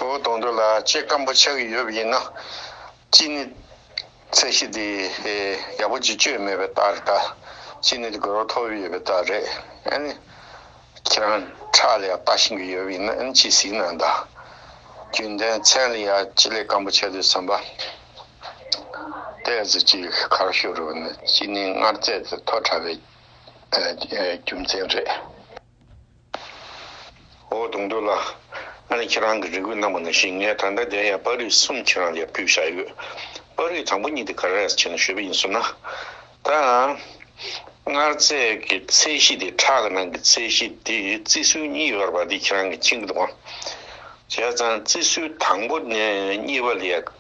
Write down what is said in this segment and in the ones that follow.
བུ་གདོང་དྲུག་ལ་ལྕེ་སྐམ་པོ་ཆགས་ཀྱི་ཡོད་པ་ཡིན་ན། ཅི་ནི། ཚད་གཞི་དེ་ཡག་པོ་བྱེད་སྤྱོད་མེད་པའི་རྟགས་རེད་ད། ཅི་ནི་དེ་དགོས་རོགས་ཐོབ་ཡོད་པའི་རྟགས་རེད། ཨེ་ནི། ཁྱེད་རང་ཁྲག་ལ་ཡང་ལྟ་བཞིན་གྱི་ཡོད་པ་ཡིན་ན་ཨེ་ནི་ཅི་ཟིག་ན་ད། རྒྱུན་ལྡན་མཚན་ལ་ཡང་ལྕེ་ལས་སྐམ་པོ་ཆགས་དུས་བསམ་པ། དེ་ཟེར་གྱི་གར་བཞུགས་རུང་ནི་ཅི་ནི་མངར་རྫས་དེ་མཐོ་དྲགས་པའི་རྒྱུ་མཚན་རེད། འོ་དུང་དུ་ལགས། ང་ནི་ཁྱེད་རང་གི་རེ་སྒུག་གནང་བ་ནང་བཞིན་ངས་ད་ལྟ་བདེན་ཡང་པར་རིས་གསུམ་ཁྱེད་རང་ལ་ཡར་ཕུལ་བཞག་ཡོད། པར་རིས་དང་པོ་གཉིས་དེ་ག་རེས་བྱས་ནས་ཞུས་པ་ཡིན་ཟུར་ན། ད་ཡང། མངར་རྫས་ཀྱི་ཚད་གཞི་དེ་ཁྲག་གི་ནང་གི་ཚད་གཞི་དེ་བརྩི་སྲོལ་གཉིས་ཡོད་པ་དེ་ཁྱེད་རང་གིས་མཁྱེན་གྱི་འདུག་བྱས་ཙང་བརྩི་སྲོལ་དང་པོ་ནས་གཉིས་པ་ལས་ཡག།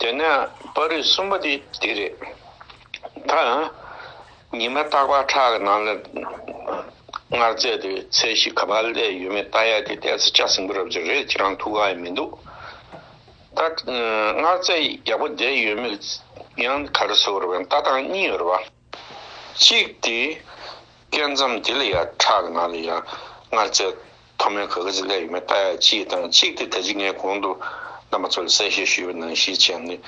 དེ་ནས་པར་རིས་གསུམ་པ་དེ་འདི་རེད། ད་ཉི་མ་སྟག་པག་ཁྲག་གི་ནང་ལ་མངར་རྫས་དེ་ཚད་གཞི་ག་པར་ལས་ཡོད་མེད་བལྟ་ཡག་དེ་བལྟས་ཚེ་ལྕགས་ཟིང་པོ་རབ་ཅིག་རེད་ཁྱེད་རང་ཐུགས་ཁག་ཡང་མི་འདུག་ད། མངར་རྫས་ཡག་པོ་བསྡད་ཡོད་མེད་ཡང་ག་རེ་ཟེར་བ་རེད་བལྟ་སྟངས་གཉིས་ཡོད་རེད་བ། གཅིག་སྟེ། སྐད་མཚམས་དེ་ལ་ཡང་ཁྲག་གི་ནང་ལ་ཡང་མངར་རྫས་མཐོ་དམན་ག་ག་ཅིག་བསླད་ཡོད་མེད་བལྟ་ཡ་གཅིག་དང་གཅིག་སྟེ་ད་ཅི་ངས་གོང་དུ་རྣམ་པ་ཚོ་ལ་གསལ་བཤད་ཞུས་པ་ནང་བཞིན་བྱས་ནས་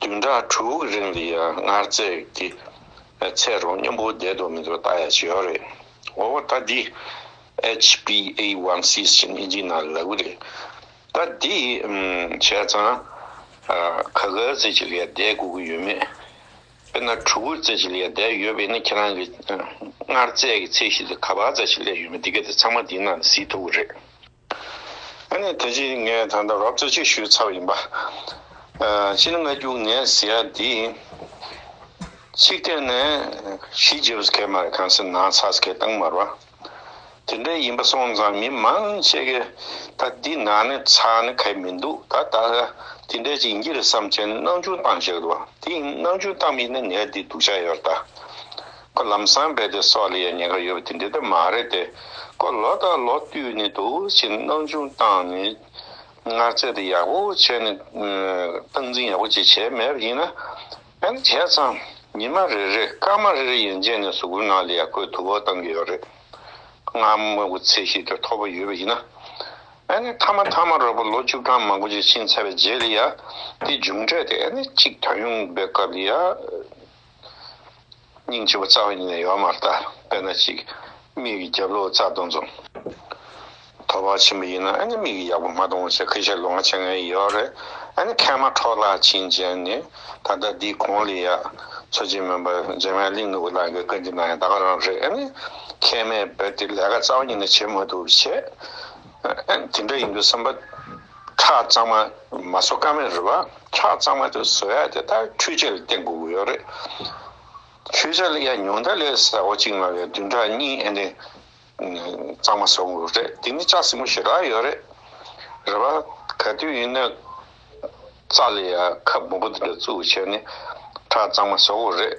བདུན་ཕྲག་དྲུག་གི་རིང་ལ་ཡང་མངར་རྫས་ཀྱི་ཚད་རོང་སྙོམས་པོ་བསྡད་འདུག་མི་འདུག་བལྟ་ཡ་བྱས་ཡོད་རེད། འོ་ད་འདི HBA1Cs ཅན་ཨིན་ཇིའི་ནང་ལ་ལབ་གི་རེད། ད་འདི་བྱས་ཙང་ག་ག་ཅིག་ལས་བསྡད་དགོས་ཀྱི་ཡོད་མེད་དཔེར་ན་གྲུ་གུར་རྩེ་ཞིག་ལས་ཡར་བསྡད་ཡོད་པས་ན་ཁྱེད་རང་གིས་སྔར་རྩེ་གི་ཚད་གཞི་ལས་ག་བར་རྩེ་ཞིག་སླེབས་ཡོད་མེད་འདི་ག་དེ་ཚང་མ་འདིའི་ནང་ནས་གཟིགས་ཐུབ་ཀྱི་རེད། ཨ་ནི་དེ་ཕྱིན་ངས་ད་ལྟ་རོབ་རྩེ་གཅིག་ཞུས་ཚར་བ་ཡིན་པ། སྤྱིར་སྔ་འགྱུར་ངས་ཟེར་ཡ་འདི་ཡིན། ཚིག་གཏན་ནས་གཞིས་བྱེས་བཟོ་མཁན་མ་རེད་གངས་སེར་ནག་ཚགས་བཟོ་མཁན་སྟག་དམར་བ། དེ་འདྲ་ཡིན་པ་སོང་ཙང་མི་མང་ཤས་ཀྱི་ད་འདི་ན་ནི་ཚགས་ནི་གས་མི་འདུག་ད་ད་ཧ་དེ་འདྲ་ཅིག་འགྱིར་བསམ་ཆེ་ནི་སྣང་ཆུང་བཏང་ཤག་དུ་དེ་ཡིན་སྣང་ཆུང་བཏང་མིན་ནི་ནས་འདི་འདུག་ཤག་ཡོར་ད་ཁོ་ལམ་སང་བས་དེ་སོགས་ལ་ཡང་ཉེན་ཁ་ཡོད་པ་དེ་འདི་ད་མ་རེད་དེ་ཁོ་ལོ་ད་ལོ་བཏུས་ནི་འདུག་ཕྱིན་སྣང་ཆུང་བཏང་ནི་ངར་ཚད་དེ་ཡག་པོ་བྱས་ནི་སྟངས་འཛིན་ཡག་པོ་བྱས་བྱས་མེད་པ་ཡིན་ན། ཡང་བྱས་ཙང་ཉི་མ་རེ་རེར་སྐར་མ་རེ་རེ་ཡན་ཆད་ནས་སུ་གུའི་ནང་ལ་ཡར་སྐོར་དུ་བ་བཏང་གི་ཡོད་རེད། སྔར་དམག་གི་ཚད་གཞི་དེ་མཐོ་པོ་ཡོད་པ་ཡིན་ན། ཨ་ནི་མཐའ་མ་མཐའ་མ་རོལ་པོ་ལོ་བཅུ་གྲངས་མང་པོ་ཅིག་ཕྱིན་ཚར་བའི་རྗེས་ལ་ཡང་དེ་མཇུག་འབྲས་དེ་ཨ་ནི་གཅིག་ད་ཡོང་བའི་སྐབས་ལ་ཡང། སྙིང་ཆེ་བོ་རྩ་བའི་ཉིན་ལས་ཡོལ་མར་བལྟ། དཔེར་ན་གཅིག། མིག་གི་རྒྱབ་ལོགས་རྩ་གདོན་འཛོམས། དོ་བག་ཆེན་པོ་ཡིན་ན་ཨ་ནི་མིག་གི་ཡག་པོ་མ་གཏོང་བ་ཆེ་ཁ་ཤས་ལོ་ང་ཆེ་ངའི་ཡོལ་རེད་ཨ་ནི་མཁལ་མ་འཕྲོག་ལ་བྱིན་ཅན་ནི་ད་ལྟ་འདིའི་གོང་ལས་ཡག། མཚོ་ཆེན་མོན་པ་རྗེ་མའི་གླིང་ནུ་བོ་ལགས་ཀྱི་བཀའ་འདི་ན་ཡང་ད་ག་རང་རེད་ཨ་ནི། མཁལ་མའི་བོད་དེ་ལས་ཀ་རྩ་བ་ཉིན་ལས་བྱེད་མ་ཐུབ་བྱས། ཨ་ནི་དེ་འདྲ་ཡིན་དུས་བསམ་པ། ཁྲག་གཙང་མ་མ་བཟོ་དཀའ་མེད་རེད་བ། ཁྲག་གཙང་མ་དེ་བཟོ་ཡག་དེ་ད་འཕྲུལ་ཆས་ལ་བརྟེན་དགོས་ཀྱི་ཡོད་རེད། འཕྲུལ་ཆས་ལ་ཡང་ཉུང་མཐའ་ལས་ཟེར་བ་གཅིག་ལ་ཡང་བདུན་ཕྲག་གཉིས་ཨེ་འདྲེན་གཙང་མ་བཟོ་དགོས་རེད་དེ་ནི་ལྕགས་སྲིན་མོ་ཞེ་དྲག་ཡོད་རེད། རེད་བ། ག་དུས་ཡིན་ན་རྩ་ལ་ཡང་ཁབ་མང་པོ་འདི་འདྲ་བཙུགས་བྱས་ནས་ཁྲག་གཙང་མ་བཟོ་དགོས་རེད།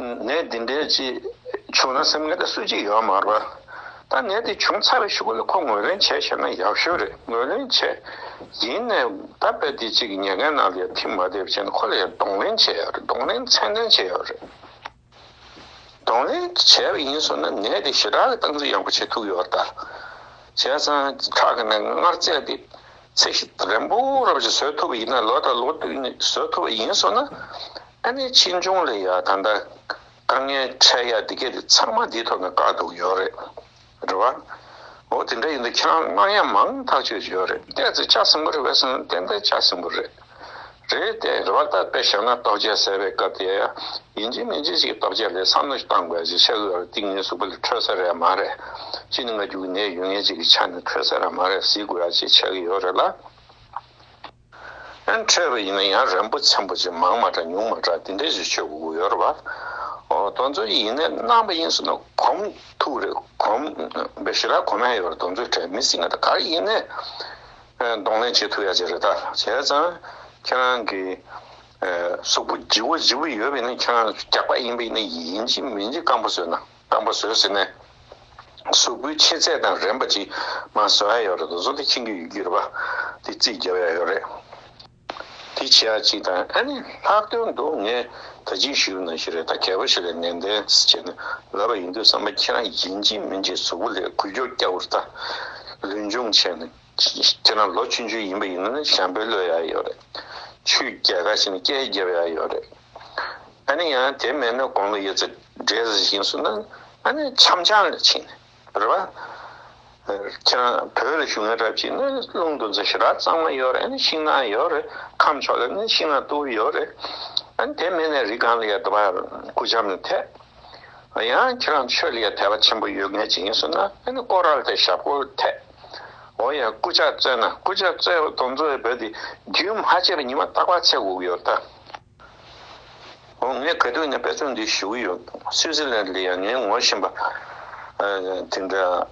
ནད་འདི་འདྲའི་ཅི་བྱུང་ན་སེམས་ངལ་དང་སུ་གཅིག་ཡོང་མ་རོགས། ད་ནད་འདི་བྱུང་ཚར་བའི་ཤུགས་ལ་ཁོ་ངོས་ལེན་བྱས་ཤེས་ན་ཡག་ཤོས་རེད་ངོས་ལེན་བྱས། ཡིན་ནས་ད་དཔེ་དེ་གཅིག་གི་ཉེས་འགན་ནང་ལ་ཡང་ཐིམ་མ་བསྡད་ཕྱིན་ཁོ་ལ་ཡང་གདོང་ལེན་བྱས་ཡོད་རེད་གདོང་ལེན་མཚན་ལྡན་བྱས་ཡོད་རེད། གདོང་ལེན་བྱས་པ་ཡིན་ཟུར་ན་ནད་དེ་ཞི་དྲག་གི་སྟངས་འཛིན་ཡག་པོ་བྱེད་ཐུབ་ཡོད་རེད་ད། བྱས་ཙང་ཁྲག་གི་ནད་སྔར་བཙལ་ཏེ། ཚེ་གཅིག་རིང་པོ་རབ་ཞིག་བཟོད་ཐུབ་པ་ཡིན་ན་ལོ་དང་ལོ་དུས་ནི་བཟོད་ཐུབ་པ་ཡིན་སོང་ན། ཨ་ནེ་ཆེ་ཆུང་ལ་ཡང་ད་ལྟ་དཀའ་ངལ་འཕྲད་ཡ་འདི་སྐད་དེ་ཚང་མ་འདིའི་ཐོག་ནས་བཀག་འདུག་ཡོད་རེད། རེད་བ། འོ་དེ་འདྲ་ཡིན་དུ་ཁྱེད་རང་སྔགས་ཡ་མང་ཐག་ཆོད་ཀྱི་ཡོད་རེད་ལྟས་ཚེ་ཆགས་ཟིན་པོ་རེད་བས་སེམས་ཏན་ཏན་ཆགས་ཟིན་པོ་རེད། རེད་དེ། རེ་བ་ལྟར་དཔེ་བཞག་ན་རྟོག་བཅས་གསལ་བའི་སྐབས་དེ། ཡིན་གཅིག་མིན་གཅིག་ཅིག་རྟོག་བཅས་ལས་བསམ་བློ་ཞིག་བཏང་དགོས་ཞེས་བཤད་དགོས་ལ་ཏིང་ངེ་གཟུགས་པ་ལས་འཕྲོས་ས་རེད་མ་རེད། གཅིག་ནི་ང་རྒྱུག་གི་ནད་ཡོད་ངེས་གཅིག་གི་ཆ་ནས་འཕྲོས་ས་རེད་མ་རེད་གཟིགས་དགོས་ཡ་ཅེས་འཆད་ཀྱི་ཡོད་རེད་ལ། འཕྲོས་པ་ཡིན་ན་ཡང་རན་པོ་ཆེན་པོ་ཅིག་མང་མ་དྲགས་ཉུང་མ་དྲགས་དེ་འདྲས་ཞིག་ཆོད་དགོས་ཡོད་རེད་བ། གདོན་མཛོ་ཡི་ཡིན་ནའི་རྣམ་པ་ཡིན་ཟེར་ན་གོམ་ཐུག་རེད་གོམ། བཞི་ར་གོམ་ཧད་ཡོད་རེད་གདོན་མཛོའི་གྲས་མི་སྲིད་ང་ད་ག་རེ་ཡིན་ནའི། གདོང་ལེན་བྱེད་ཐུབ་ཡག་ཅིག་རེད་ད་བྱས་ཙང་ཁྱེད་རང་གི་གཟུགས་པོ་བརྗི་བོ་བརྗི་བོ་ཡོད་པས་ན་ཁྱེད་རང་རྒྱགས་པ་ཡིན་པས་ན་ཡིན་གཅིག་མིན་གཅིག་སྐམ་པོ་བཟོས་ན་སྐམ་པོ་བཟོས་ཟིན་ནས་གཟུགས་པོའི་ཆེ་ཚད་དང་རན་པ་གཅིག་མ་བཟོ་ཡག་ཡོད་རེད་ད་བཟོ་དེ་ཁྱེད་ཀྱི་ཡུལ་གྱི་རེད་པ་དེ་རྩིས་རྒྱབ་ཡག་ཡོད་རེད། དེ་བྱས་ཨ་ཅིག་དང་ཨ་ནི་ལྷག་དོན་དུ་ངས་ད་ཅིའི་ཞུ་ན་ཞིག་རེད་ད་གད་པ་ཞིག་ལས་ནན་ཏན་བྱས་ནས་ལབ་པ་ཡིན་དུས་བསམ་པ་ཁྱེད་རང་ཡིན་གཅིག་མིན་གཅིག་གཟུགས་པོ་ལས་གུས་སྐྱོག་སྐྱག་བུར་བལྟ། ལུས་འབྱུང་ཆེ་ན་ཁྱེད་རང་ལོ་བཅུ་བཅུ་ཡིན་པ་ཡིན་ན་ཞང་པོའི་བློ་ཡག་ཡོད་རེད། ཆུའི་རྒྱལ་ཁ་བྱས་ན་སྐྱའི་རྒྱལ་པོ་ཡག་ཡོད་རེད། ཨ་ནི་ཡང་དེ་མེད་ན་དགོང་ལ་ཡོད་ཚད་འདྲེས་བཞིན་སུ་ན་ཨ་ནི་འཆམ་ཆང་ལ་ཕྱིན། རེད་པ། ཁྱེད་རང་བོད་ལ་བཞུགས་ན་རབ་ཅིག་ནི་རླུང་འདུ་འཛི་ཞི་རགས་གཙང་མ་ཡོད་རེད་ནི་ཤིང་ནགས་ཡོད་རེད་ཁམས་ཕྱོགས་ལ་ནི་ཤིང་ནགས་སྟུག་པོ་ཡོད་རེད། དེ་མེད་ན་རི་སྒང་ལ་ཡང་དེ་བ་སྐུ་ལྕམ་ལ་འཐད། ཡང་ཁྱེད་རང་ཆོས་ལ་ཡང་དད་པ་ཆེན་པོ་ཡོད་ངེས་ཅིག་ཡིན་ཟེར་ན་དེ་ནི་ཀོ་ར་ལ་དད་ཞབས་ཀོ་ལ་འཐད། འོ་ཡང་སྐུ་ལྕགས་བཙལ་ན་སྐུ་ལྕགས་བཙལ་བ་དང་འཛོལ་བའི་བོད་དེ་རྒྱུན་མ་ཆད་པའི་ཉི་མ་ལྟག་པར་ཚེ་འགུགས་ཡོད་ད། ངས་ག་དུས་ནས་དཔེ་ཚོགས་འདི་ཞུ་གི་ཡོད་འདུག་སུད་སི་ལན་ལ་ཡང་ངའི་ངོ་བཞིན་པ་དེ་འདྲ་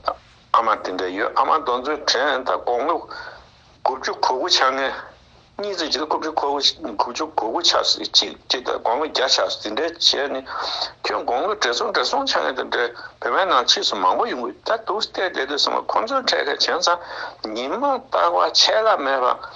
ཨ་མ་དེ་འདྲ་ཡོད་ཨ་མ་གདོང་ཚོད་དྲན་དང་དགོང་མོ་དགུ་བཅུ་གོ་དགུ་ཆགས་ངལ་གཉིད་ཚོད་ཅིག་ལ་དགུ་བཅུ་གོ་དགུ་བཅུ་གོ་དགུ་ཆགས་སོ་གཅིག་ཅིག་དང་དགོང་མོ་བརྒྱ་ཆགས་སོ་དེ་འདྲ་བྱས་ནས་ཁྱོད་དགོང་མོ་བགྲེས་སོང་བགྲེས་སོང་ཆགས་ངེས་དང་འདྲ་བོད་པའི་ནང་ཕྱིས་སུ་མང་པོ་ཡོང་གི་ད་དུག་སྟེ་བསྡད་འདུག་ཟེར་མ་ཁོང་ཚོའི་འཕྲད་མཁན་བྱས་ཙང་ཉིན་མ་རྟག་པ་ཆད་ལ་མེད་པ།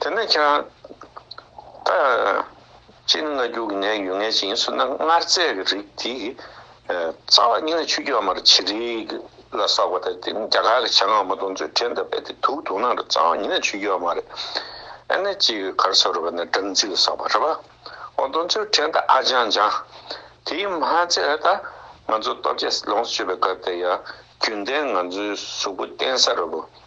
དེ་ནས་ཀྱང། ད་ཅི་ནུས་ན་རྒྱུ་གི་ནད་ཡོད་ངེས་ཅན་སུ་ན་མངར་རྫས་ཀྱི་རིགས་དེ། རྩ་བ་ནི་ཆུ་རྒྱུས་མར་བྱི་རིལ་ལ་བསགས་པ་དང་དེ་ནི་རྒྱ་གར་གྱི་བྱ་ངང་མ་དུང་ཆོས་ཕྲན་དུ་སྦས་ཏེ་དུག་དུག་ནང་དུ་རྩ་བ་ནི་ཆུ་རྒྱུས་མར་ཨེ་ནས་ཅི་ཡོད་གར་ས་རུ་བས་ན་སྦྲང་རྩི་ལ་བསགས་པ་རེད་པ། འོ་དུང་ཆོས་ཕྲན་དང་ཨ་ལྗང་ལྗང། དེའི་མ་ཚད་ད་ང་ཚོ་སྟོབས་རྒྱལ་ལོངས་སུ་སྤྱོད་པའི་སྐབས་དེ་ཡང་རྒྱུན་ལྡན་ང་ཚོའི་གཟུགས་པོ་བརྟན་ས་རུ་བས་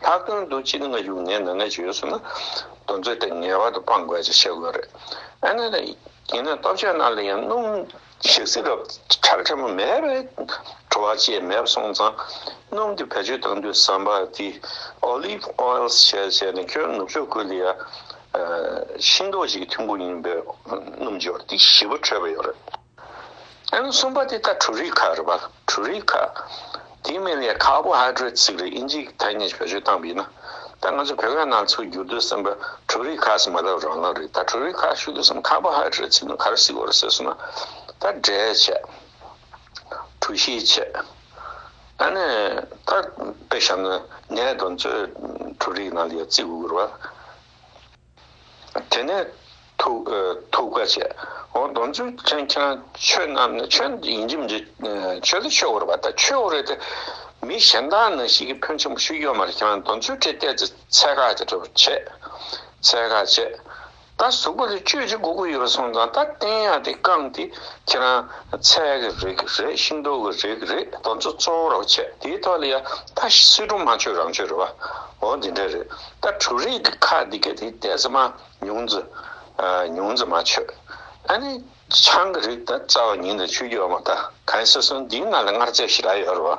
ལྷག་དོན་དུ་སྤྱིར་སྔ་གཞུག་ངན་ནང་ན་བྱོལ་ཡོད་སོང་ན། དོན་རྩོད་དེ་ངེས་པར་དུ་སྤང་དགོས་ཅེས་བཤད་དགོས་རེད། ཨ་ནེ། ཡིན་ན་སྟོབས་ཆེན་རྣམས་ལ་ཡང་སྣུམ། ཞག་སྲིད་རབ་གྲགས་ཕྲ་མོ་མེད་པས། བྲོ་བ་ཅེས་མེད་པ་སོང་ཙང། སྣུམ་དེ་བེད་སྤྱོད་གཏང་དུས་ཟམ་པ་དེ། Olive oils། བྱས་ནས་ཁྱོད་ནུབ་ཕྱོགས་ཁུལ་དུ་ཡ། ཤིང་ཏོག་ཅིག་གི་ཐུན་མགོ་ཡིན་པའི་སྣུམ་འབྱོར་ཏེ་བཞི་པ་འཕྲོད་པ་ཡོད་རེད། གསུམ་པ་དེ་ལྟར་དྲུག་རིགས་ཁ་རུ་བ་དྲུག་རིགས་ཁ། དེའི་མིང་ལས་ཁ་བོ་ཧྭ་ཀྲོའི་ཚིག་རིས་ཨིན་ཇིའི་ཐ་སྙད་བེད་སྤྱོད་བཏང་བས་ན། ད་ང་ཚོ་བོད་སྐད་ནང་ཚུར་བསྒྱུར་དུས་སེམས་པ་དྲུག་རིགས་ཁ་ཟེར་མ་ཐག་རང་ལག་རེད་ད་དྲུག་རིགས་ཁ་ཞུ་དུས་སེམས་ཁ་བོ་ཧྭ་ཀྲོའི་ཚིག་ནང་ག་རེ་གཟིགས་འོ་རེ་ཟེར་སོང་ན། ད་འབྲས་ཆད། གྲུ་བཞིའི་ཆད། ད་ནི་ད་དཔེ་བཞག་ན་ནས་དང་ཚོད་དྲུག་རིགས་ནང་ལ་ཡོད་ཚིག་གུ་གུར་བ། དེ་ནས་ཐུགས་བཀའ་ཆད། འོ་སྡོམ་ཆུ་ཆེན་ཁྱེད་རང་ཆོས་རྣམས་ནི་ཆོས་འདི་ཡིན་གྱི་མི་འདྲེ། ཆོས་འདི་ཆོས་འོར་བ་དང་ཆོས་འོར་རེད་དེ། མི་གཞན་དག་ནང་བཞིན་གྱི་ཕོན་ཆེན་པོ་ཞིག་ཡོད་མ་རེད་ཁྱེད་རང་སྡོམ་ཆུ་དེ་བལྟས་ཚེ་ཚད་བཀག་ཅིག་འགྲོ་བར་བྱེད། ཚད་བཀག་བྱས། ད་གཟུགས་པོ་དེ་བཅོས་ཅིག་སྒུག་གི་ཡོད་པ་སོང་ཙང་ད་བསྟན་ཡག་དེ་བཀང་དེ་ཁྱེད་རང་ཚད་གི་རེད་གི་རེད་ཤིང་ཏོག་གི་རེད་གི་རེད་སྡོམ་ཆུ་གཙོ་བོ་རོགས་བྱས་དེའི་ཐོག་ལ་ཡ་ད་སི་ཀྲུང་མ་ཆོས་རང་ཆོས་རེད་བ་འོ་འདི་འདྲ་རེད། ད་དྲུག་རིགས་ཀྱི་ཁ་འདི་ག་དེ་ལྟས་ཙམ་མ་ཉུང་ཙི། ཉུང་ཙི་མ་ཆོད། ཨ་ནི་ཆང་གི་རིགས་ད་རྩ་བ་ཉིན་དང་ཆུ་རྒྱུ་བ་མ་ད་གངས་སེ་སོན་འདིའི་ནང་ལ་མངར་རྫས་ཞི་ར་ཡོད་རོ།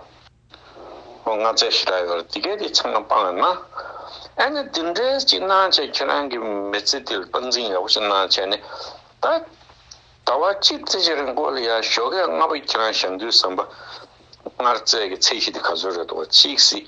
ཨོ་མངར་རྫས་ཞི་ར་ཡོད་རོ་འདི་གས་དེ་ཚང་མ་སྤང་ཡོད་ན། ཨ་ནི་འདི་འདྲས་ཅིག་གནང་བྱས་ཁྱེད་རང་གི་མི་ཚེ་འདི་ལ་སྟངས་འཛིན་ཡག་པོ་ཞིག་གནང་བྱས་ནས་ད། ད་བར་ཅིག་བརྩེ་ཆེན་རིན་པོ་ལ་ཡ་ཞོ་གས་ལྔ་པོ་ཁྱེད་རང་ཞབས་འདུལ་ཟམ་པ། མངར་རྫས་ཀྱི་ཚད་གཞི་འདི་ག་ཚོད་རེད་འདུག་བ་ཅིག་སྲིད།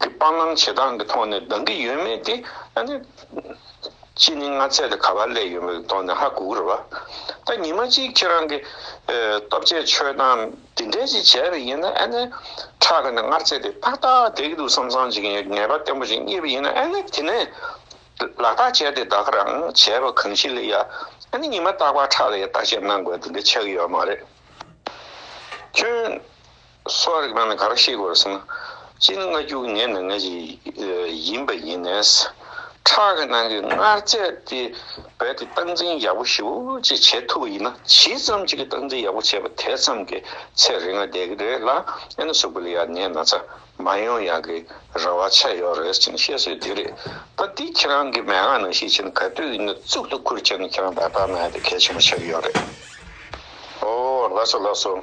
དེ་སྤང་བླང་བྱེད་སྟངས་ཀྱི་ཐོག་ནས་ལྡང་གི་ཡོད་མེད་དེ་ཨ་ནི། ཕྱི་ཉིན་ང་ཚད་དེ་ག་པར་སླེབས་ཡོད་མེད་ཀྱི་ཐོག་ནས་ཧ་གོ་གི་རེད་བ། ད་ཉི་མ་གཅིག་ཁྱེད་རང་གི། སྟོབས་ཆེ་ཆོས་སྟངས་དེ་འདྲས་ཅིག་བྱས་པ་ཡིན་ན་ཨ་ནི། ཕྲག་གི་ནས་ངར་ཚད་དེ་ཏག་ཏག་དེད་ཀྱི་འདུག་བསམ་བསམ་བྱེད་ཀྱི་ཡོད་ངེས་པ་བརྟན་པོ་ཞིག་རྙེད་པ་ཡིན་ན་ཨ་ནི་དེ་ནས། ལག་རྟགས་བྱས་ཏེ་བདག་གི་རང་བྱས་པ་གང་ཞིག་ལ་ཡ། ཨ་ནི་ཉི་མ་རྟག་པར་ཕྲག་ལ་ཡ་བརྟག་དཔྱད་གནང་དགོས་དེ་འདྲས་ཆགས་ཀྱི་ཡོད་མ་རེད། ཁྱོད། གསོ་བ་རིག་པ་ནི་ག་རེ་ཤེས་དགོས་ཟེར་ན། སྤྱིར་སྔ་འགྱུར་ངེས་ནས་ངེས་ཅན་ཡིན་པ་ཡིན། ཁྲག་གི་ནང་གི་མངར་རྫས་དེ་རྦད་དེ་སྟངས་འཛིན་ཡག་པོ་ཞིབ་ཅིག་བྱེད་ཐུབ་པ་ཡིན་ན་ཇི་ཙམ་གྱིས་སྟངས་འཛིན་ཡག་པོ་བྱས་པ་དེ་ཙམ་གྱིས་ཚེ་རིང་བ་བསྡད་ཀྱི་རེད་ལ་ཨེ་ན་སུག་པོ་ལ་ཡང་ནད་ན་ཚ་མ་ཡོང་ཡག་གི་རེ་བ་ཆད་ཡོད་རེད་ཅེས་བཤད་སྲོལ་དེ་རེད་ད་འདི་ཁྱེད་རང་གིས་མན་ངག་ནང་ཤེས་བྱེད་ནི་ག་དུས་ཡིན་ན་གཙུག་ཏུ་ཁུར་བྱས་ནས་ཁྱེད་རང་བདག་དག་ན་ཡ་དེ་གལ་ཆེན་པོ་ཆགས་ཀྱི་ཡོད་རེད། ཨོ་ལགས་སོ་ལགས་སོ།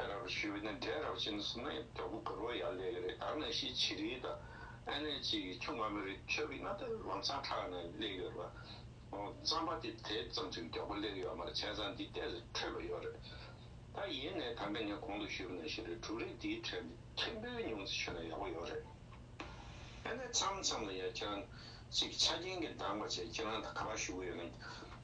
ཨེ་རག་གི་ཞུས་པ་ནི་འབྲས་རག་ཅན་སུ་མའི་གྲོགས་པོ་གུ་རོ་ཡར་ལེ་གི་རེད་ད་ནས་ཤི་ཆི་རིའི་དང་ཨེ་ལེ་ཅི་གི་ཆུང་མ་མི་རིགས་ཆོས་གི་མངའ་བདག་ལམ་ཚང་ཁྲག་ནས་ལེ་གི་རེད་པ། རྩམ་པ་དེ་དེ་ཙམ་ཞིག་མགྱོགས་པོ་ལེ་གི་ཡོད་མ་རེད་བྱས་ཙང་འདི་ལྟས་སུ་འཕྲོད་པ་ཡོད་རེད་ད་ཡིན་ནའི་དམ་པས་ངས་གོང་དུ་ཞུས་པ་ནས་ཤི་རི་དྲུག་རེ་འདིའི་གྲས་འདི་མཁན་པོའི་ཉུང་ཚེ་ཞུས་ན་ཡག་པོ་ཡོད་རེད་ཨེ་ལེ་མཚམས་མཚམས་ལ་ཡ་ཁྱེད་རང་ཅིག་ཆ་རྐྱེན་གི་འདང་པ་བྱས་ཁྱེད་རང་ད་ག་པ་ཞུ་གི་ཡོད་ན་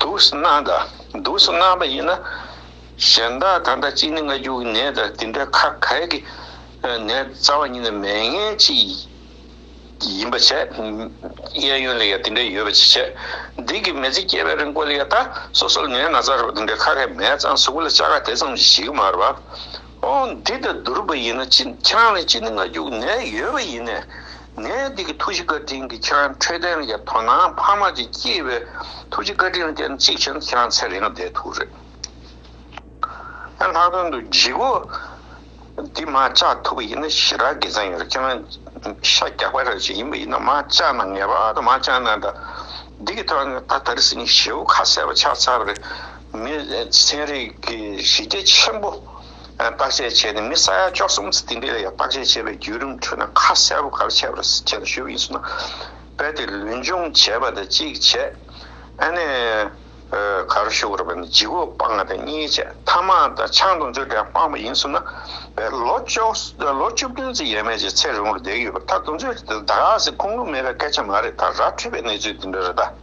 དུག་སྣ་དང་དུག་སྣ་པ་ཡིན་ན་གཞན་དག་ད་ལྟ་གཅིག་ནི་སྔ་འགྱུར་གྱི་ནད་དང་དེ་འདྲའི་ཁ་གས་ཀྱི་ནད་རྩ་བ་ཉིད་ནས་མའི་ངན་གཅིག་ཡིན་པ་བྱས། གཡས་གཡོན་ལ་ཡང་དེ་འདྲའི་ཡོད་པ་ཅིག་བྱས། སྡིག་གི་མེ་ཚིག་སྐྱེས་པའི་རིང་བཀོལ་ལ་ཡང་ད་སོ་སོར་ནད་སྣ་ཚར་བ་དེ་འདྲའི་ཁ་གས་མའི་རྩ་གཟུགས་པོ་ལ་བཅའ་ག་དེ་ཙམ་གྱིས་ཞིག་མ་རུ་བ། འོ་འདི་ལྟ་བུ་རུ་བ་ཡིན་ན་ཁྱེད་རང་ལ་གཅིག་ནི་སྔ་འགྱུར་གྱི་ནད་ཡོད་པ་ཡིན་ནས་ནད་འདི་གི་ཐུགས་རྗེ་བཀའ་དྲིན་གྱིས་ཁྱེད་རང་འཕྲོད་བསྟེན་ལ་ཡར་ཐོན་ན་ཕ་མ་གཅིག་སྐྱེས་པའི་ཐུགས་རྗེ་བཀའ་དྲིན་ལ་བརྟེན་ན་གཅིག་བྱས་ན་ཁྱེད་རང་ཚེ་རིང་ལ་བདེ་ཐུག་རེད། ལྷག་དོན་དུ་འཇིགས་བུ་འདི་མ་བཅག་ཐུབ་པ་ཡིན་ན་ཞེ་དྲག་དགེ་མཚན་ཡོད་རེད་ཁྱེད་རང་ཤ་རྒྱགས་པ་རང་བཞིན་ཡིན་པ་ཡིན་ན་མ་བཅག་ན་ངེས་པར་དུ་མ་བཅག་ན་ད་འདི་གི་ཐོག་ནས་ད་དར་སྲིན་གྱི་བྱེའུ་ཁ་གསལ་བ་ཆགས་ཚར་བ་རེད་མི་ཚན་རིག་གི་གཞི་རྒྱ་ཆེན་པོ། བརྟག་དཔྱད་བྱས་ནས་མི་ས་ཡ་བཅོ་གསུམ་ཚུད་དེ་འདྲའི་ལ་ཡང་བརྟག་དཔྱད་བྱས་པའི་བརྒྱུད་རིམ་ཁྲོད་ན་ཁ་གསལ་པོ་ག་རེ་བྱས་པ་རེད་ཟེར་ཆེད་དུ་ཞུས་པ་ཡིན་ཟེར་ན། རྦད་དེ་ལུས་འབྱུང་བྱས་པ་དང་གཅིག་བྱས། ཨ་ནེ། ག་རེ་ཞུ་གི་རེད་བར་ནི་ལྗིད་བོ་སྤངས་ང་དང་གཉིས་བྱས་ཐ་མ་ད་ཆང་དང་ཆུ་དེ་ཡང་སྤངས་པ་ཡིན་ཟེར་ན། རྦད་ལོ་བཅོ་ལོ་བཅུ་བདུན་ཚེ་ཡས་མས་ཀྱི་ཚེ་རིང་བོར་བསྡད་ཀྱི་ཡོད་པ་ད་དུང་ཚོད་དེ་ད་ག་ཟེ་ཁུང་ལུང་མེད་པའི་སྐད་ཆ་མ་རེད་ད་ར་འཁྲུལ་པའི་གནས་ཚུལ་དེ་འདྲ་རེད་ད།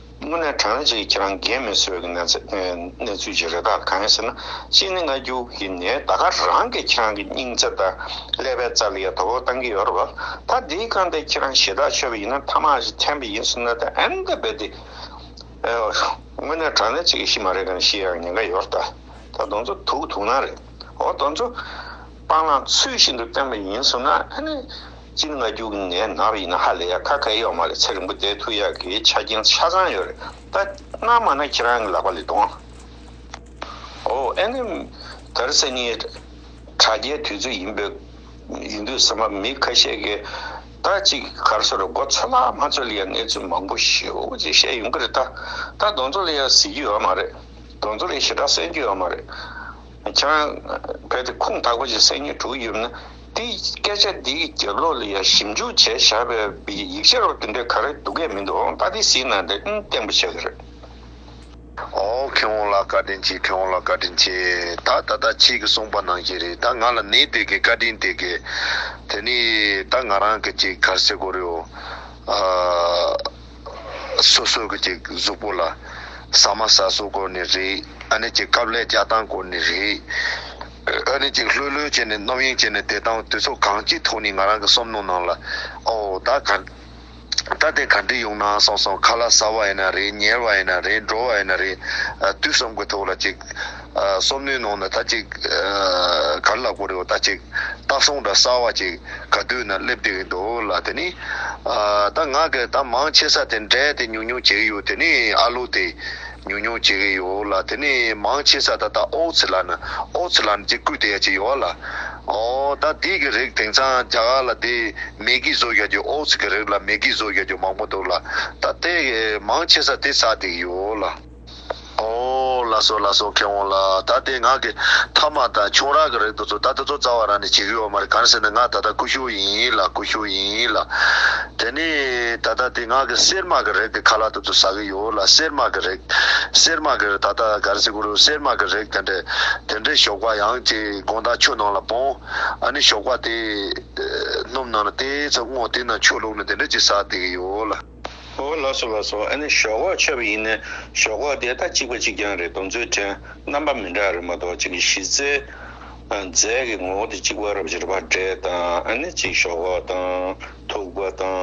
དངོས་གནས་དྲ་ལམ་ཞིག་ཁྱེད་རང་འགན་མི་འཚོལ་བའི་གནས་ཚུལ་ཞིག་རེད་ད་གང་ཡིན་ཟེར་ན་གཅིག་ནི་སྔ་འགྱུར་གྱི་ནས་ད་ག་རང་གིས་ཁྱེད་རང་གི་སྙིང་བརྩེ་དང་ཀླད་པའི་རྩ་ལ་ཡ་དོ་བོ་བཏང་གི་ཡོད་རེད་བ་ད་འདིའི་སྐང་དེ་ཁྱེད་རང་ཞེ་དྲག་ཆོད་པ་ཡིན་ན་མཐའ་མ་ཞིག་འཐེན་པ་ཡིན་ཟེར་ན་ད་ཨེན་ད་རྦད་དེ་དངོས་གནས་དྲ་ལམ་ཞིག་ཤི་མ་རེད་གང་ཤི་ཡང་ཉེན་ཁ་ཡོད་རེད་ད་ད་གདོང་ཚོད་དུག་དུག་ནག་རེད་འོ་གདོང་ཚོད་སྤང་བླང་ཚུལ་བཞིན་དུ་བསྟེན་པ་ཡིན་ཟེར་ན་ཨ་ནི་སྤྱིར་ང་རྒྱུག་ནས་ནར་ཡིན་ན་ཧ་ལས་ཡ་ཁ་ཁ་ཡོག་མ་ལས་ཚེ་རིང་པོ་བསྡད་ཐུག་ཡག་གི་ཆ་རྐྱེན་ཆ་ཚང་ཡོད་རེད་ད་སྣ་མང་ན་ཁྱེད་རང་གི་ལག་པ་ལས་དོང་ཨོ་ཨེ་ནི་དར་ཚེ་ནི་དྲ་རྒྱའི་དུས་ཚོད་ཡིན་པའི་ཡིན་དུས་སེམས་པ་མི་ཁ་ཤས་གི་ད་ཅིག་གར་སོ་རེད་མགོ་ཚོད་ལག་མ་ཚོད་ལ་ཡ་གནས་ཚུལ་མང་པོ་ཤེའུ་ཅིག་བཤད་ཡོང་གི་རེད་ད་ད་གདོང་ཚོད་ལ་ཡ་གཟིགས་རྒྱུ་ཡོད་མ་རེད་གདོང་ཚོད་ལ་ཡ་ཞེ་དྲག་གསན་རྒྱུ་ཡོད་མ་རེད། བྱ། གལ་ཏེ་ཁུངས་དག་པ་ཞིག་སེམས་ཉིད་དྲུག་ཡོད་ན། དེའི་སྐད་ཆ་འདི་ཡི་རྒྱབ་ལོགས་ལ་ཡང་ཞིབ་འཇུག་བྱས་བཞག་པའི་ཡིག་ཆ་རོབ་ཏུ་འདྲེ་ག་རེ་འདུག་གས་མི་འདུག་ཨང་རྟགས་དེ་གཟིགས་ན་དེ་ཨང་བརྟན་པོ་ཆགས་ཀྱི་རེད། ཨོ་ཁེ་འོང་ལགས་བཀའ་དྲིན་ཆེ་ཁེ་འོང་ལགས་བཀའ་དྲིན་ཆེ་ད་ད་ད་ཁྱེད་ཀྱི་གསུངས་པ་ནང་བཞིན་རེད་ད་ང་ལ་ནི་དེ་གའི་བཀའ་དྲིན་དེ་གའི་དེ་ནི་ད་ང་རང་གི་ཅིག་གར་སེ་གོ་རེའོ། སོ་སོ་གི་ཀྱི་གཟུགས་པོ་ལ། ཟ་མ་ཟ་སོགས་སྐོར་ནི་རེད། ཨ་ནི་ཀྱི་སྐབས་ལས་བསྐྱལ་སྟངས་སྐོར་ནི་རེད། ཨ་ནི་ཀྱི་ལྷོད་ལྷོད་བྱས་ནས་རྣམ་གཡེང་བྱས་ནས་བསྡད་སྟངས་དུས་ཚོད་གང་ཅིའི་ཐོག་ནས་ང་རང་གི་སོམ་མནོ་ནང་ལ། ཨོ། ད་ག། ད་དེ་ག་འདྲི་ཡོང་ནའང་སོང་སོང་ཁ་ལ་ཟ་བ་ཡིན་ན་རེད་ཉལ་བ་ཡིན་ན་རེད་འགྲོ་བ་ཡིན་ན་རེད། དུས་གསུམ་གི་ཐོག་ལ་ཀྱི། སོར་མོའི་ནང་ན་ད་ཅིག། གར་ལ་གོ་རེ་བ་ད་ཅིག། སྟག་ཟུང་འདྲ་གསར་བ་ཅིག་ག་དུས་ན་སླེབས་བསྡད་ཀྱི་འདུག་ལ་དེ་ནི། ད་ང་གི་ད་མང་ཆེ་ས་དེ་འདྲས་དེ་ཉུག་ཉུག་བྱེད་ཀྱི་ཡོད་དེ་ནི་ཨ་ལོ་དེ། ཉུག་ཉུག་བྱེད་ཀྱི་ཡོད་ལ་དེ་ནི་མང་ཆེ་ས་ད་ད་ཨོའུ་ཚི་ལ་ན་ཨོའུ་ཚི་ལ་ན་ཅིག་བརྐུས་བསྡད་ཡ་ཅིག་ཡོད་ལ། ཨོ། ད་འདི་གི་རིགས་དེང་སང་རྒྱ་གར་ལ་དེ་མེ་གི་བཟོ་བཞག་རྒྱུ་ཨོའུ་ཚི་གི་རིགས་ལ་མེ་གི་བཟོ་བཞག་རྒྱུ་མང་པོ་འདུག་ལ། ད་དེ་མང་ཆེ་ས་དེ་ཟ་བསྡད་ཀྱི་ཡོད་ལ། ཨོ། ལ་སོགས་ལ་སོགས་ཁེ་འོང་ལ། ད་དེ་ངག་གི། ཐ་མ་དང་ཆུང་རག་གི་རེག་དུག་ཚོ་ད་དེ་ཚོ་རྩ་བ་རང་ནས་བྱེད་ཀྱི་ཡོད་མ་རེད་གང་ཟེར་ན་ངག་ད་ལྟ་ཀུ་ཤུ་ཡིན་ལ་ཀུ་ཤུ་ཡིན་ལ། དེ་ནས་ད་ལྟ་དེ་ངག་གི་གསེར་མག་གི་རེག་དེ་ཁ་ལག་དུ་ཚོ་ཟ་གི་ཡོད་ལ་གསེར་མག་གི་རེག། གསེར་མག་གི་རེག་ད་ལྟ་ག་རེ་ཟེར་གུ་རུ་གསེར་མག་གི་རེག་དེ་འདྲས། དེ་འདྲས་ཞོགས་པ་ཡང་དེ་དགོང་དག་ཆུ་ནང་ལ་སྤོང། ཨ་ནི་ཞོགས་པ་དེ། སྣུམ་ནང་ལ་དེ་ཚོ་བརྔོག་དེ་ནང་ཆུ་བླུག་ནས་དེ་འདྲས་ཀྱི་ཟ་བསྡད་ཀྱི་ཡོད་ལ། ཧོ། ལ་སོགས་ལ་སོགས་ཨ་ནི་ཞོག་ཁོག་ཆོད་པ་ཡིན་ནི་ཞོག་ཁོག་དེ་ད་གཅིག་པ་གཅིག་རྐྱང་རེད་དོ་མཛོད་ཕྲན་རྣམ་པ་མི་འདྲ་རེད་མ་གཏོགས་གཅིག་གི་གཞི་རྩའི་རྫས་ཀྱི་ངོ་བོ་དེ་གཅིག་པ་རབ་འབྱོར་པ་འབྲས་དང་ཨ་ནི་གཅིག་ཞོག་ཁོག་དང་ཐུག་པ་དང་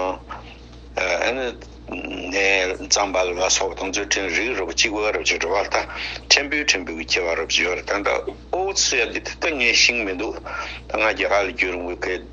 ཨ་ནི་ནས་རྩམ་པ་ལ་སོགས་དང་མཛོད་ཕྲན་རིགས་རུ་པ་གཅིག་པ་རབ་འབྱོར་པ་ད་ཕྲན་བུའི་ཕྲན་བུ་གི་ཁྱད་པར་རབ་འབྱོར་ད་ད་ཨོའུ་ཚུ་ཡ་འདི་ད་ངའི་ཤིང་མི་འདུག་ད་ང་རྒྱ་གར་ལ་བསྐྱོད་རུང་བའི་ཁའི།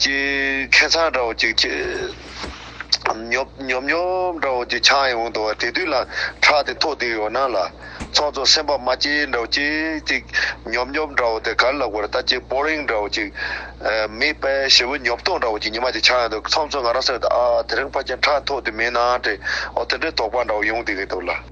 ཅི། ཁེ་མཚང་འདྲ་བོ་ཅིག་སྐྱེས། ཉོབ་ཉོབ་འདྲ་བོ་ཅིག་ཆགས་ཡོང་དུ་བ་དེ་དུས་ལ་ཁྲག་དེ་ཐོག་དེ་ཡོ་ན་ལ། ཚོགས་གཙོ་སེམས་པ་མ་སྐྱེས་འདྲ་བོ་ཅིག་ཅིག། ཉོབ་ཉོབ་འདྲ་བོ་དེ་གར་ལ་གོར་ལྟ་ཅི་པོ་རིང་འདྲ་བོ་ཅིག། མི་དཔལ་ཞི་བུ་ཉོབ་ཐོག་འདྲ་བོ་ཅིག་ཉི་མ་ཅིག་ཆགས་ཡོང་དུ་ཚོགས་གཙོ་ང་རང་སེམས་ཏུ་ཨ་ཨ་དེ་རིང་ཕ་ཁྱེད་ཁྲག་ཐོག་དེ་མིན་ནའང་དྲི་འོ་དེ་འདྲའི་དོགས་པ་འདྲ་བོ་ཡོང་དུ་གི་འདུག་ལ།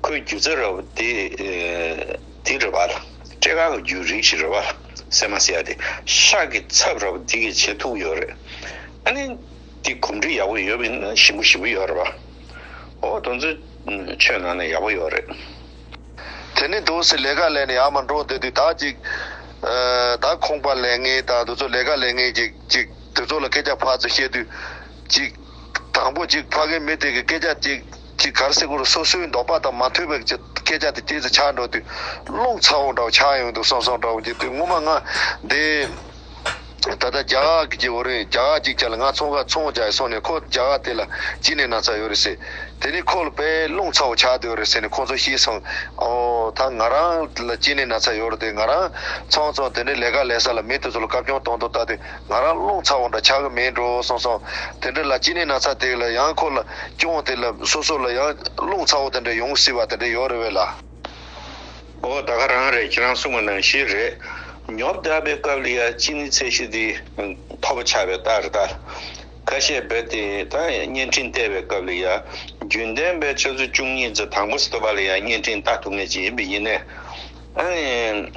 ཁོའི་རྒྱུ་རྩལ་ར་བ་དེ་དེ་རེད་བ་ལ། སྤྲེལ་ཁང་གི་རྒྱུའི་རིགས་ཤིག་རེད་བ་ལ་སེ་མ་སེ་ཡ་དེ། ཤག་གི་ཚབ་ར་བ་དེ་གི་བྱེད་ཐུག་ཡོད་རེད། ཨ་ནི། དེ་གོམས་འདྲིས་ཡག་པོ་ཡོད་མིན་ན་ཞིམ་པོ་ཞིམ་པོ་ཡོད་རེད་བ། ཨོ་དོན་ཚོའི་ཆོས་ནང་ནས་ཡག་པོ་ཡོད་རེད། དེ་ནི་དུང་སེ་ལས་ཀ་ལས་ནས་ཡར་མ་འགྲོ་འདོད་དུས་དག་ཅིག། དག་ཁོང་པ་ལས་ངེས་དང་དུ་ཚོ་ལས་ཀ་ལས་ངེས་ཀྱིས་ཅིག་དུ་ཚོ་ལ་སྐད་ཆ་ཕར་ཚུར་བཤད་དུས། ཅིག། དང་པོ་ཅིག་ཕ་གིའི་མི་དེ་གི་སྐད་ཆ་ཅིག། ཅིག་གར་སེ་གོར་སོ་སོའི་འདོགས་པ་དང་མ་མཐུན་པའི་སྐད་ཆ་དེ་སྐྱེས་སུ་ཆགས་འགྲོ་དུས་རླུང་ཚ་བོ་འདྲ་བོ་ཆགས་ཡོང་དུས་སོང་སོང་འདྲ་བོ་གྱིས་དུས་ངོ་མ་ང་འདི་ད་ལྟ་རྒྱ་ག་གི་བོ་རིན་རྒྱ་ག་ཅིག་ཅར་ལ་ང་ཚོང་ཁ་ཚོང་བྱ་ཡི་སོང་ནས་ཁོ་རྒྱ་ག་དེ་ལ་ཅི་ནས་ན་ཚ་ཡོད་རེད་ཟེར་དེ་ནས་ཁོ་ལ་དཔེ་རླུང་ཚ་བོ་ཆགས་འདུག་རེད་ཟེར་ནས་ཁོ་ཚོ་ཤི་སོང་ཨོ་ད་ང་རང་ལ་ཅི་ནས་ན་ཚ་ཡོད་རེད་དེ་ང་རང་ཚོང་ཚོང་དེ་ནས་ལས་ཀ་ལས་ས་ལ་མི་དེ་ཚོ་ལ་བཀའ་སྐྱོང་གཏོང་གཏོང་ད་དེ། ང་རང་རླུང་ཚ་བོ་འདྲ་ཆགས་ཀྱི་མེད་འགྲོ་སོང་སོང། དེ་འདྲ་ལ་སྐྱིད་ནས་ན་ཚ་དེ་ལ་ཡང་ཁོ་ལ་སྐྱོང་དེ་ལ་སོ་སོ་ལ་ཡང་རླུང་ཚ་བོ་དེ་འདྲ་ཡོང་སྲིད་པ་དེ་འདྲ་ཡོད་རེད་བས་ལ། ཨོ་ད་ག་རང་རེད་ཁྱེད་རང་གསུང་བ་ནང་བཞིན་རེད། ཉོབ་བརྡལ་པའི་སྐབས་ལ་ཡ་ཅི་ནི་ཚད་གཞི་འདི་མཐོ་པོ་ཆགས་པའི་རྟགས་རེད་ད། ཁ་བཤད་རྦད་དེ་ད་བརྙན་འཕྲིན་བལྟས་པའི་སྐབས་ལ་ཡ་རྒྱུན་ལྡན་པའི་ཆུ་ཚོད་བཅུ་གཉིས་ཚོ་དང་པོ་སི་ཏུ་བ་ལ་ཡ་བརྙན་འཕྲིན་ལྟ་ཐུབ་ངེས་ཅིག་ཡིན་པས་ཡིན་ནའི། ཨ་ནི།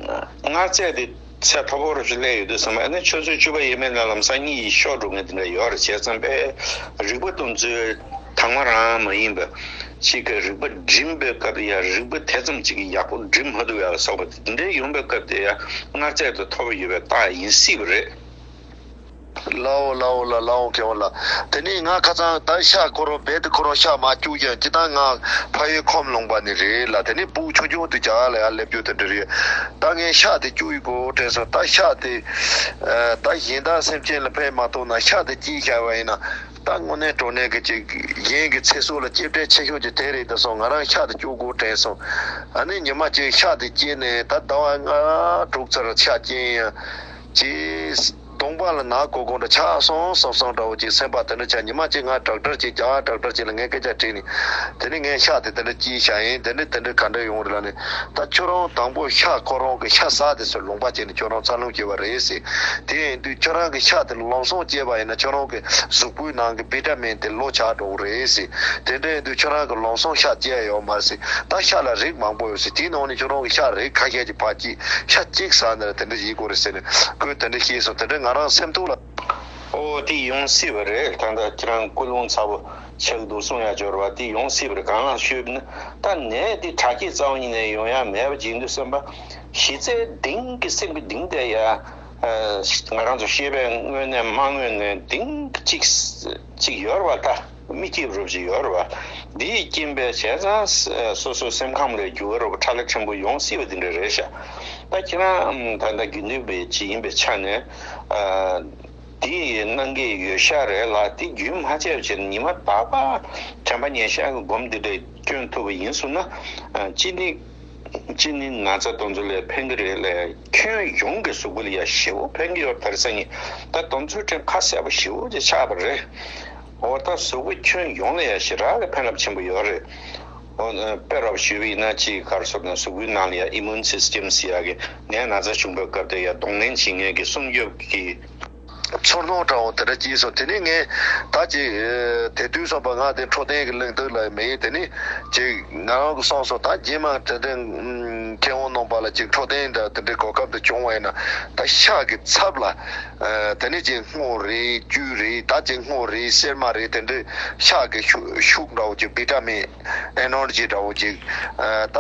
མངགས་བྱས་དེ། ཚད་མཐོ་པོ་རུ་ཞིག་སླེབས་ཡོད་འདུག་ཟེར་མ་ནི་ཆུ་ཚོད་བཅུ་པ་ཡས་མས་ནས་ལམ་སང་གཉིད་ཡིད་ཤོག་སྒྲུབ་མཁན་དེ་འདྲ་ཡོད་རེད་བྱས་ཙང་པས་རིག་པ་སྟོན་ཚུལ་དག་མ་རང་མ་ཡིན་པ་ཅིག་གིས་རིག་པ་སྒྲིམ་པའི་སྐབས་དེ་ཡང་རིག་པ་དེ་ཙམ་ཅིག་གིས་ཡག་པོ་སྒྲིམ་མ་ཐུབ་ཡ་ལ་སོགས་པ་དེ་འདྲའི་ཡོང་པའི་སྐབས་དེ་ཡང་སྔར་ཚད་དུ་མཐོ་བ་ཡོད་པའི་རྟགས་ཡིན་སྲིད་པ་རེད། བླ་འོག་བླ་འོག་ལ་བླ་འོག་གེ་འོག་ལ། དེ་ནས་ངག་ཁ་ཚང་བདག་ཤ་བསྐོར་རོ་རྦད་དེ་འཁོར་རོ་ཤ་མ་སྐྱུག་ཀྱང་ཅི་ལྟར་ངག་ཕ་ཡུལ་ཁོམ་ལོང་པ་ནི་རེད་ལ་དེ་ནས་པུའུ་ཆུང་ཆུང་དུ་གྱ་ག་ལ་ཡང་སླེབས་རྒྱུ་དེ་འདྲ་རེད། ད་ངས་ཤ་དེ་སྐྱུག་ཡོད་གོ་དྲན་སོང་ད་ཤ་དེ། ད་གཞན་དག་སེམས་ཅན་ལ་ཕན་མ་ཐོག་ན་ཤ་དེ་སྐྱེས་ཤར་བ་ཡིན་ན། ད་དངོས་གནས་གྲོ་ནས་ཀྱི་ཅིག་གཞན་གྱི་ཚེ་སྲོག་ལ་སྐྱེད་བྲལ་ཆེ་ཤོས་ཀྱི་དེ་རེད་ད་སོང་ང་རང་ཤ་དེ་སྐྱུག་གོ་དྲན་སོང། ཨ་ནེ་ཉི་མ་གཅིག་ཤ་དེ་སྐྱེས་ནས་ད་ཟླ་བ་ལྔ་དྲུག་ཚར་ཤ་སྐྱེས་ཡིན་ཡང། ཅེས། སྟོང་པ་ལ་ནག་གོ་གོ་འདྲ་ཆ་སང་སང་སང་འདྲ་བོ་ཅིག་སེམས་པ་དེ་འདྲ་བྱ་ཉི་མ་ཅིག་ང་དྲག་དྲག་ཅིག་བྱ་དྲག་དྲག་ཅིག་ལ་ངས་སྐད་ཆ་དྲིས་ནས། དེ་ནས་ངས་ཤག་དེ་དེ་འདྲ་ཅིག་བྱ་ཡིན་དེ་འདྲ་དེ་འདྲ་ག་འདྲ་ཡོང་རེད་ལ་ནི། ད་ཁྱོད་རང་དང་པོ་ཤག་ཁོ་རང་གི་ཤ་ཟ་དེ་ཚོར་ལུང་པ་བྱས་ནས་ཁྱོད་རང་འཚར་ལོངས་བྱེད་པ་རེད་ཟེར། དེ་ཡིན་དུས་ཁྱོད་རང་གི་ཤག་དེ་ལ་ལམ་སང་སྐྱེས་པ་ཡིན་ན་ཁྱོད་རང་གི་གཟུགས་པོའི་ནང་གི་བྷི་ཏྲ་མིན་དེ་ལོ་ཆགས་འགྲོ་གི་རེད་ཟེར། དེ་འདྲ་ཡིན་དུས་ཁྱོད་རང་གི་ལམ་སང་ཤ་སྐྱེས་ཡོད་མ་ཟེར། ད་ཤ་ལ་རིགས་མང་པོ་ཡོད་ཟེར་དེའི་ནང་ནས་ཁྱོད་རང་གི་ཤ་རིགས་ཁ་ཤས་ཀྱི། བ་གྱིས་ཤ་གཅིག་ཟ་ནས་དེ་འདྲ་བྱེད་དགོས་རེད་ཟེར་ནས་ཁོས་དེ་འདྲ་ཤེས་སོང་དེ་འདྲ་ང་རང་སེམས་སྡུག་ལ། ཨོ་དེ་ཡོང་སྲིད་པ་རེད་ད་ལྟ་ཁྱེད་རང་སྐུ་རླུང་ཚ་པོ་ཆེར་འདུག་གསུང་ཡ་འབྱོར་བ་དེ་ཡོང་སྲིད་པ་རེད་གང་ལགས་ཤོད་ན་ད་ནས་དེ་དྲ་རྒྱའི་རྩ་བ་ཉིད་ནས་ཡོང་ཡ་མེད་པ་བྱེད་འདོད་སེམས་པ་གཞི་རྩའི་གདིང་གི་སེམས་ཀྱི་གདིང་དེ་ཡ་ང་རང་ཚོ་ཤེས་པའི་དངོས་གནས་མ་དངོས་གནས་གདིང་གཅིག་ཡོད་རེད་བ་ད། མི་སྐྱེས་རབས་ཀྱི་ཡོལ་བ་འདིས་རྐྱེན་པས་བྱས་ཙང་སོ་སོའི་སེམས་ཁམས་ལས་རྒྱུ་བ་རུ་ཁྲག་ལེ་ཕྲན་བུ་ཡོང་སྲིད་པ་འདི་འདྲ་རེད་ཤག་ད་ཁྱེད་རང་ད་ལྟ་རྒྱུ་འདོན་པའི་གཅིག་ཡིན་པའི་ཆ་ནས་འདི་གནང་གི་ཡོད་ཤག་རེད་ལ་དེ་རྒྱུན་མ་ཆད་ཕྱིར་ཉི་མ་ཏག་ཏག་དྲན་པ་ཉེན་ཤག་གི་སྒོམ་འདི་འདྲས་སྐྱོན་ཐུབ་པ་ཡིན་བཟུང་ན་ཅི་ནི། གཅིག་ནི་ན་ཚ་གདོན་ཚོད་ལས་ཕན་གྱི་རེད་ལས་ཁྱོན་ཡོངས་ཀྱི་ཟུག་གུ་ཡ་བཞི་བོ་ཕན་གྱི་ཡོད་དར་ས་ནི་ད་གདོན་ཚོད་ཕྲན་ཁ་གསལ་པོ་བཞི་བོ་ཅིག་ཆགས་པ་རེད་འོ་ད་ཟུག་གུ་ཁྱོན་ཡོངས་ལ་ཡ་བཞི་རག་གི་ཕན་རབ་ཆེན་པོ་ཡོད་རེད་འོ་དཔེ་རོགས་ཞུས་པ་ཡིན་ན་སྤྱི་ཡི་ཁར་སོར་ནས་ཟུག་གུའི་ནང་ལ་ཡ Immune Systems ཡ་གི་ནད་ན་ཚ་བྱུང་པའི་སྐབས་དེར་ཡ་གདོང་ལེན་བྱེད་ངེས་ཀྱི་སྲུང་སྐྱོབ་ཀྱི། ཚུར་སྣང་དྲ་བ་དེ་འདྲ་སྐྱེས་སོང་དེ་ནས་ངས་ད་ཅིག་དེ་དུས་སོང་པ་ང་དེ་འཕྲོ་བསྟེན་གི་གླེང་སྟེགས་ལ་མི་ཡིན་དེ་ནས་ཅིག་ང་རང་གི་སོང་སོང་ད་རྗེས་མ་དེ་འདྲའི་མཁས་དབང་ནང་པ་ལ་ཅིག་འཕྲོ་བསྟེན་འདྲ་དེ་འདྲའི་གོ་སྐབས་དེ་བྱུང་བ་ཡིན་ན་ད་ཤག་གི་ཚབ་ལ་དེ་ནས་ཅིག་སྔོ་རེད་བཅུད་རེད་ད་ཅིག་སྔོ་རེད་སེར་མ་རེད་དེ་འདྲའི་ཤག་གི་ཤུགས་འདྲ་བོ་ཅིག་བི་ཏྲ་མིན Energy འདྲ་བོ་ཅིག་ད་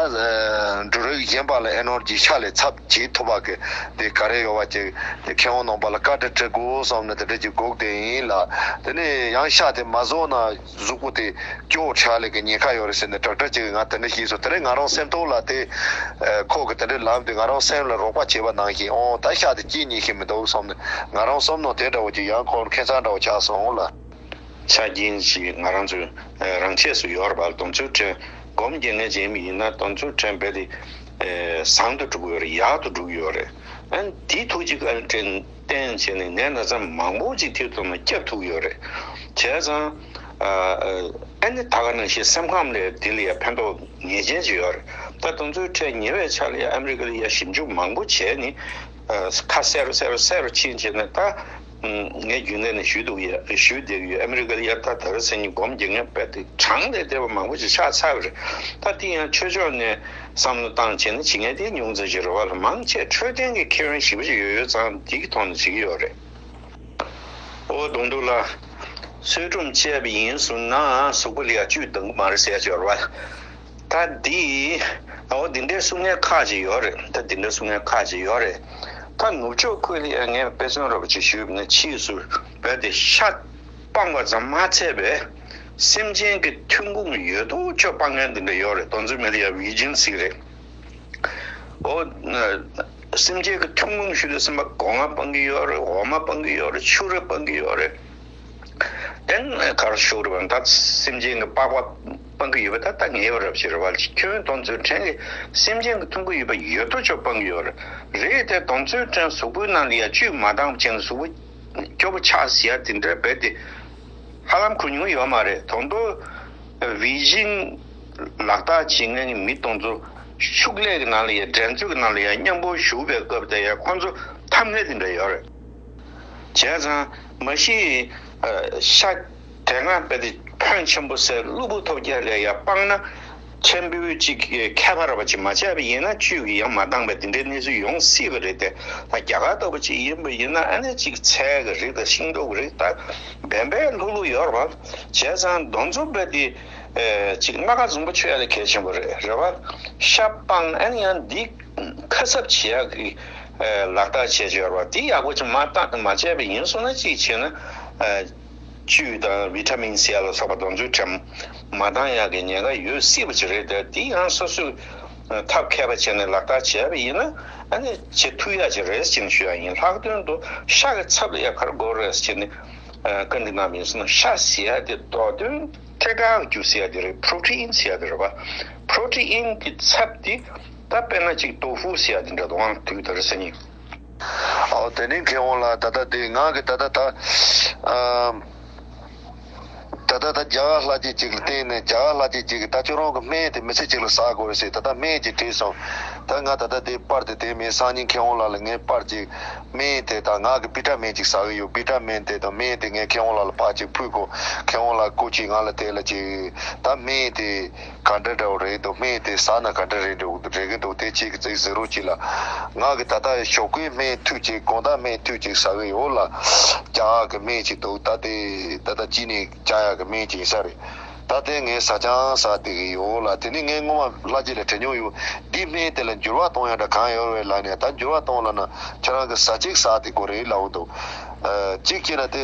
འབྲུ་རིགས་གཞན་པ་ལ Energy ཤ་ལས་ཚབ། ཇིའི་ཐོབ་བ་གི། དེ་ག་རེ་ཡོད་བ་ཅིག། དེ་ཁེ་འོང་ནོངས་པ་ལ་བཀའ་དྲི་དྲི་དགོས་བསམ་ནས་དེ་འདྲ་ཅིག་འགོག་བདེ་ཡིན་ལ། དེ་ནས་ཡང་ཤ་དེ་མ་བཟོ་ན་གཟུགས་པོ་དེ་སྐྱོ་བོ་ཁྲ་ལེགས་ཀྱི་ཉེན་ཁ་ཡོད་རེད་ཟེར་ནས་དྲག་དྲག་ཅིག་གིས་ང་དེ་འདྲ་ཞིག་བཟོ་དེ་རིང་ང་རང་སེམས་སྟོང་ལ་དེ། ཁོག་གི་དེ་འདྲའི་ལམ་དེ་ང་རང་སེམས་ལ་རོགས་པ་བྱེད་པ་ནང་བཞིན་འོང་ད་ཤ་དེ་སྐྱིད་ཉིན་ཞིག་མི་འདུག་བསམ་ནས་ང་རང་བསམ་ནོངས་དེ་འདྲ་བོ་ཅིག་ཡང་འཁོར་ཁེ་ཚང་འདྲ་བོ་ཆགས་སོང་ལ། ཆ་རྐྱེན་ཞིག་ང་རང་ཚོའི་རང་ཆས་སུ་ཡོད་རེད་བ་ལ་དོམ་ཚུལ་ཕྲན་སྒོམ་རྒྱལ་ངེས་ཅན་མི་ཡིན་ན་དོམ་ཚུལ་ཕྲན་རྦད་དེ། བཟང་དུ་བསྒྲུགས་ཡོད་རེད་ཡག་ཏུ་བསྒྲུགས་ཡོད་རེད་ཨ་འདིས་ཐུགས་རྗེ་བཀའ་དྲིན་བརྟན་བྱས་ནས་ངའི་ན་ཚ་མང་པོ་ཅིག་ཐེར་ཐུབ་ན་སྐྱབས་ཐུགས་ཡོད་རེད་བྱས་ཙང་ཨ་ནི་ད་ག་ནང་བཞིན་སེམས་ཁམས་ལས་དེ་ལ་ཡ་ཕན་ཐོགས་ངེས་ཅན་ཅིག་ཡོད་རེད་ད་དང་ཚུལ་ཁྲལ་ཉེ་བའི་ཆ་ལ་ཡ་ཨ་མི་རི་ཀ་ལ་ཡ་ཞིབ་འཇུག་མང་པོ་བྱས་ནས་ཁ་གསལ་རུ་གསལ་རུ་གསལ་རུ་ཕྱིན་བྱས་ནས་ད། ངས་རྒྱུན་ལས་ནས་ཞུས་འདུག་ཡོད་ཞུས་བསྡད་ཀྱི་ཡོད་ཨ་མེ་རི་ཀར་དབྱར་ཐ་དར་ཚེས་གཉིས་སྒོམ་རྒྱལ་ངན་པད་དེ་གྲངས་ལས་འདས་པ་མང་པོ་ཞིག་ཆགས་ཚར་རེད་ད་འདི་ཡང་ཆོས་ཕྱོགས་ནས་བསམ་བློ་བཏང་བྱས་ན་ཇི་ངན་དེ་མྱོང་ཚར་ཞིག་རེད་བ་ལ་མང་ཆེས་འཕྲོད་བསྟེན་གྱི་ཁེ་བན་ཞིབ་པོ་ཞིག་ཡོད་ཡོད་ཙང་འདི་གི་ཐོག་ནས་བྱེད་ཀྱི་ཡོད་རེད། འོ་དུང་དུང་ལགས། ཚུལ་ཁྲོམ་བཅས་པ་ཡིན་ཟུར་ནང་གཟུགས་པོ་ལ་ཡང་བཅུད་ལྡང་གི་མ་རེད་ཟེར་ཡ་ཆོས་རེད་བ་ལ། ད་འདི། འོ་འདི་འདྲའི་གསུང་ངན་ཁག་ཅིག་ཡོད་རེད་ད་འདི་འདྲའི་གསུང་ངན་ཁག་ཅིག་ཡོད་རེད། ད་ནུབ་ཕྱོགས་ཁུལ་ལ་ཡང་ངས་དཔེ་མཚོན་རོབ་ཅིག་ཞུས་པ་ནི་ཕྱིས་སུ་བོད་དེ་ཤ་སྤང་བ་ཙམ་མ་ཚད་པས། སེམས་ཅན་གྱི་ཐུན་མོང་ཡོད་དོ་ཅོག་སྤང་མཁན་འདི་འདྲ་ཡོད་རེད་དོ་འཛིན་མེད་ལ་ཡ་བྷི་ཇིན་སིག་རེད། འོ། སེམས་ཅན་གྱི་ཐུན་མོང་ཞུས་ཏེ་སེམས་པ་སྒོ་ང་སྤང་གི་ཡོད་རེད་འོ་མ་སྤང་གི་ཡོད་རེད་ཕྱུགས་རེ་སྤང་གི་ཡོད་རེད། དེ་ནས་གར་ཤོར་བ་ནི་ད་སེམས་ཅན་གྱི་པགས་པ། སྤང་གི་ཡོད་པ་ད་ལྟ་ངེས་པར་རབ་བྱེད་རེད་བ་ལས་ཁྱོད་བོན་སྟོང་མཛོད་འཕྲེང་གི་སེམས་ཅན་གྱི་ཐུགས་མགོ་ཡོད་པ་ཡོད་དོ་ཅོག་སྤང་གི་ཡོད་རེད་རེད་དེ་སྟོང་མཛོད་འཕྲེང་གཟུགས་པོའི་ནང་དུ་ཡ་བཅུད་མ་དྭངས་པ་ཅན་གྱི་གཟུགས་པོ་སྐྱོ་པོ་ཆགས་ཟེར་ཡ་དེ་འདྲ་རྦད་དེ་ཧ་ལམ་གོ་མྱོང་ཡོད་མ་རེད་དོ་མདོ་བི་ཇིན་ལག་རྟགས་བྱེད་མཁན་གྱི་མི་སྟོང་ཚོ་ཕྱུགས་ལས་ཀྱི་ནང་ལ་ཡ་འགྲན་རྩོད་ཀྱི་ནང་ལ་ཡ་མཉམ་པོར་བཞུགས་པའི་སྐབས་དེ་ཡ་ཁོ་ཚོ་ཐམས་ལྷད་དེ་འདྲ་ཡོད་རེད་བྱས་ཙང་མ་གཞི་ཤ། དེ་སྔ་དཔེ་དེབ་ཕོན་ཆེན་པོ་སེ་ཀླུ་བུ་ཐོབ་རྒྱལ་ལས་ཡར་སྤངས་ན། མཆན་བུ་གཅིག་གིས་ཁྱད་པར་བ་ཅིག་མ་བྱས་པ་ཡིན་ན་བཅུ་གིས་ཡང་མ་འདངས་པའི་འདི་འདྲའི་གནས་ཚུལ་ཡོང་སྲིད་པ་རེད་དེ། ད་རྒྱ་གར་ལྟ་བུ་ཅིག་ཡིན་པ་ཡིན་ན་ཨ་ནེ་གཅིག་ཚལ་གྱི་རིགས་དང་ཤིང་ཏོག་གི་རིགས་ལྟར་བན་བན་ལྷུག་ལྷུག་ཡོད་རེད་བ། བྱས་ཙང་གདོན་རྫོབ་དཔེ་དེ་གཅིག་སྣ་ཁ་འཛུམ་པོ་ཆོས་ལ་གལ་ཆེན་པོ་རེད་བ། ཤ་སྤངས་ཨ་ནེ་ཡང་འདི་ཁ་གསབ་བྱེད་ཡག་གི་ལག་བསྟར་བྱེད་བྱོས་རེད་བ། འདི་ཡག་པོ་ཅིག་མ་བྱས་པ་ཡིན་སོང་ན་གཅིག་བྱས་ན། བཅུད་དང་བི་ཏྲ་མིན་སེ་ལ་སོགས་པ་དང་འཇུ་འཕྲད་མ་བཏང་ཡག་གི་ཉེན་ཁ་ཡོད་སྲིད་པ་ཅིག་རེད་དེ་དེ་ཡང་སོ་སོས་ཐབས་མཁས་པ་བྱས་ནས་ལག་བསྟར་བྱས་པ་ཡིན་ན་ནི་ཆེས་མཐུ་ཡག་ཅིག་རེད་ཅེས་ཞུ་ཡག་ཡིན་ལྷག་དོན་དུ་ཤ་གི་ཚབ་ལ་ཡ་གར་དགོས་རེད་ཅེས་ནི་བཀའ་འདྲི་གནང་བ་ཡིན་སྲིད་ན་ཤ་ཟེར་ཡ་དེ་མདོག་དོན་ཐད་དྲག་རྒྱུ་ཟེར་ཡ་དེ་རེད་ཕྲོ་ཏྲི་ཨིན་ཟེར་ཡ་དེ་རེད་བ་ཕྲོ་ཏྲི་ཨིན་གྱི་ཚབ་དེ་ད་དཔེར་ན་ཅིག་ཏོ་ཧྥུ་ཟེར་ཡ་དེ་འདྲ་དུའང་དུས་ལྟར་ཟེར་ཡིན། ཨའོ་དེ་ནི་མཁས་དབང་ལགས་ད་ལྟ་དེ་ངག་གི་ད་ལྟ་ད། ད་ལྟ་ད་རྒྱ་གར་ལྷ་ཆས་ཅིག་ལ་བརྟེན་ནས་རྒྱ་གར་ལྷ་ཆས་ཅིག་གིས་ད་ཁྱོད་རང་གི་སྨད་དེ་མི་ཚེ་གཅིག་ལ་ཟ་དགོས་ཞེས་ད་ལྟ་སྨད་ཀྱིས་བྲིས་སོང། ད་ང་ད་ལྟ་དེ་དཔར་དེ་དེ་མིན་སང་ཉིན་མཁས་དབང་ལགས་ལ་ངས་དཔར་ཅིག་སྨད་དེ་དང་ངག་གི་པི་ཏྲ་མེན་ཅིག་ཟ་གི་ཡོད་པི་ཏྲ་མེན་དེ་དང་སྨད་དེ་ངས་མཁས་དབང་ལགས་ལ་ཕག་ཅིག་ཕུལ་གོ་མཁས་དབང་ལགས་སྐུ་གཅིག་ང་ལ་དེ་ལ་ཅིག་ད་སྨད་དེ། ག་འདྲ་འདྲ་བོ་རེད་འདུག་སྨན་དེ་ཟ་ན་ག་འདྲ་རེད་འདུག་འདུག་རེ་གི་འདུག་དེ་ཁྱེད་ཀྱི་ཙིག་ཟེར་རོ་གྱིས་ལ། ང་གི་ད་ལྟ་ཞོག་ཁོའི་སྨན་མཐུད་ཅིག་དགོངས་དག་སྨན་མཐུད་ཅིག་ཟ་གི་ཡོད་ལ། རྐྱང་ཡག་གི་སྨན་ཅིག་འདུག་ད་དེ་ད་ལྟ་གྱིས་ནི་རྐྱང་ཡག་གི་སྨན་ཅིག་ཡིན་ས་རེད། ད་དེ་ངས་ཟ་རྐྱང་ཟ་བསྡད་གི་ཡོད་ལ་དེ་ནི་ངས་སྔོན་མ་བླ་རྗེ་ལས་དྲན་མྱོང་ཡོད་འདིའི་སྨན་དེ་ལ་འགྱུར་བ་གཏོང་ཡག་འདྲ་གང་ཡོད་རེད་ལབ་ནས་ད་འགྱུར་བ་གཏོང་ལབ་ན་ཁྱེད་རང་གི་ཟ་ཅིག་ཟ་དེ་དགོས་རེད་ལབ་འདུག། གཅིག་བྱས་ན་དེ།